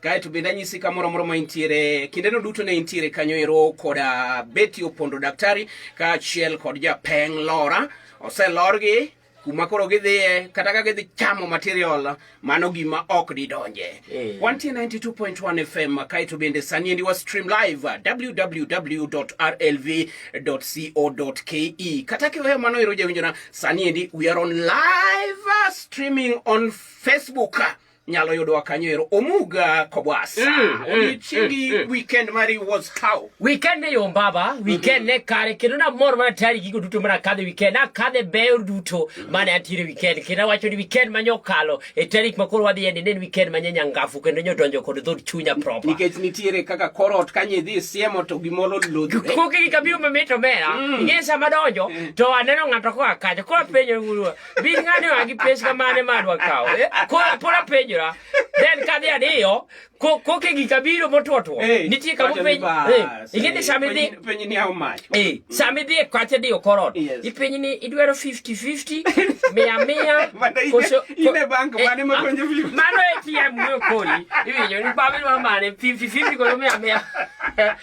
kae to bende anyisi kamoro amoro ma intiere kindeno duto ne intiere kanyo ero koda beti opondo daktari kaachiel kod japeng lora oselorgi kuma koro gidhiye kata ka gidhi chamo material mano gima ok didonje mm. 192.1 fm kae to bende sani endi wa stream live www rlv co ke kata kiweyo mano ero jawinjona sani endi we are on live streaming on facebook nyalo yudowa kanyo ero omuga kobwasa mm, mm, odiochiengi mm, weekend mari was how weekend ne yom baba mm-hmm. weekend ne kare kendo namor mana tayari gigo duto mana kadhe weekend akadhe beyo duto mane antiere weekend kendo awacho ni weekend manye okalo e tarik makoro wadhi yende ne en weekend manye nyangafu kendo nye odonjo kod dhod chunya proper nikech nitiere kaka korot kanye idhi siemo to gimoro lodhre koke gi kabiyo mamit omera ing'e sama donjo to aneno ng'ato koa kacha koa penyo bin ng'ane wa gi pes kamane ma adwa kawo eh? Ko- pod apenjora then kadhi adiyo ko- koke gi kabiro motwotwo Eh, nitie kama wacho ni penj bas, eh, ing'e ni eh, sama idhi penj- penj ni how much? Eh, sama idhi e kwache diyo korot Yes. ipenj ni idwaro 50-50 mia mia Mana ine- koso- ine bank eh, mane ma- makonjo Philip? mano ATM wuyo kodi iwinjo ni bamidwa mane 50-50 koso mia mia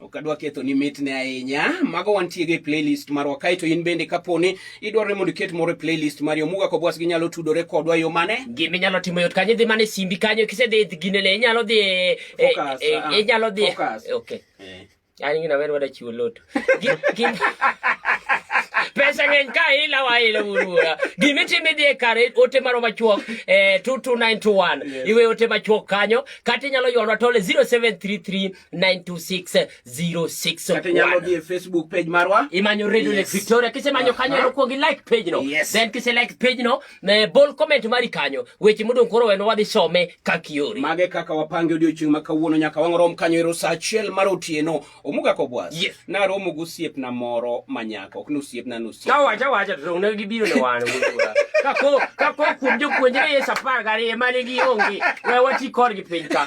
ok adwa ketho ni mitne ahinya mago wantie gi playlist marwa kae to in bende kaponi idwaro ni mondo iket moro e playlist mari omuga kobwas ginyalo tudore kodwa yo mane gima inyalo timo yot kanyo idhi mana e simbi kanyo kisedhi ginene inyalo dhi e, e, Focus, e, ah, inyalo dhi focus. okay Eh. an gina wer wada chiwo loto Gi- gi- pesa ng'eny ka ila wa ila wuruwa gima itimo idhi e kare ote maro machuok eh, 22921 Yes. iwe ote machuok kanyo kata inyalo ywalwa tole 0733926061 kata inyalo dhi e facebook page marwa imanyo radio yes. lake victoria kisemanyo uh -huh. kanyo nokuong i like page no yes. then kise like page no eh, bol comment mari kanyo weche modong' koro weno wadhi some kaka yori mage kaka wapange odiochieng' ma kawuono nyaka wang'rom kanyo ero saa achiel mar otieno omuga kobwas yes. naromo gi osiepna moro manyako ok ni osiepna ni osiep kawacha wacha to ne gibiro ne wan kako kako kuom jopuonjre yes apar gariyo mane gi onge we wati korgi piny ka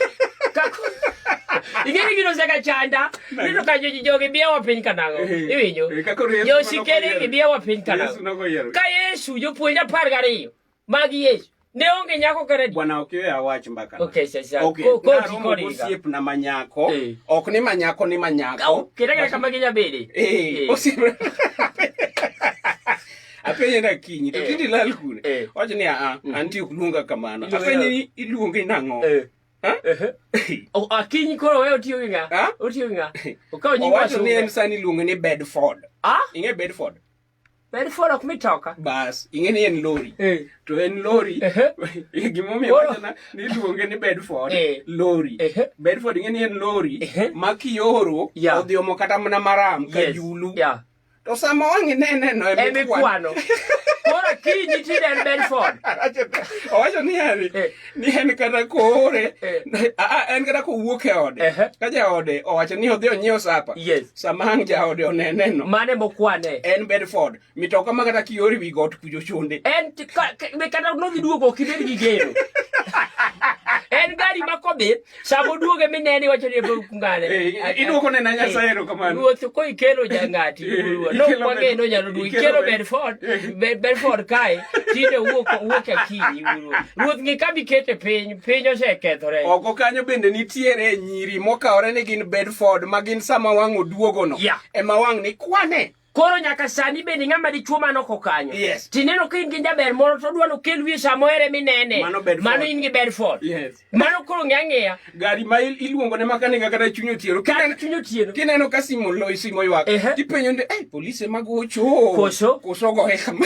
kako ing'eni gino seka chanda nino ka jogi biyawa piny kanago eh, iwinjo eh, josikere gibiyawa piny kanago ka yesu jopuonj apar gariyo Mag Yesu. Ne onge nyako kare. Bwana ok yoya wach mbaka. Okay, sasa. Okay. Ko ko jiko ni. Osiep na manyako. Eh. Ok ni manyako ni manyako. Au, kidaka kama ginya bede. Eh, eh. osiep. apenye na kinyi to eh. kindi lal kune eh. wacho ni aa ah, mm. anti ok luonga kamano apenye ni iluonge nang'o eh. oh, akinyi ah, koro we otiyo gi ng'a otiyo gi ng'a okawo nying wacho ni en sani iluonge ni bedford ah? ing'e bedford Very full of mitoka. Bas, ingeni en lori. Eh. To en lori. Eh. eh. Gimomi wacho na ni luonge ni Bedford. Eh. Lori. Eh. Bedford ingeni en lori. Eh. Ma kioro yeah. odhi omo kata mana maram ka yes. julu. Yeah. To sama wangi nene no e mikwano. Kora kiji tiden Bedford. Owacho ni yani. Eh. ni en kata koore eh. en kata kowuok e ode ka jaode owacho ni odhi onyiew sapa sama ang' jaode oneneno mane mokwane en bedford mitoka ma kata kiori wi got kujo chunde en kata nodhi duogo ok ibed gi geno en gari ma kobith Sama oduoge minene iwacho ni ebe kungane. Eh, iduoko ne na Nyasaye eh, erokamano. Ruoth ko ikelo jangati. Eh, no kwang'e no nyalo duogo. Ikelo Bedford, Bedford kae tinde wuok wuok akinyi wuoro. Ruoth ng'i kama ikete piny, piny osekethore. Oko kanyo bende nitiere nyiri mokawore ni gin Bedford ma gin sama wang' oduogono. Ema wang' ni kwane. koro nyaka sani bende ng'ama dichuo mano kokanyo yes. tineno ka in gi jaber moro to odwa nokel wiye sama ohere minene mano, mano in gi bedford yes. mano koro ng'e ang'eya gari ma iluongo ne makanika kata chuny otieno kata chuny otieno kineno ka simo lo simo ywak uh -huh. tipenyo nde eh, polise magocho koso koso gohe kama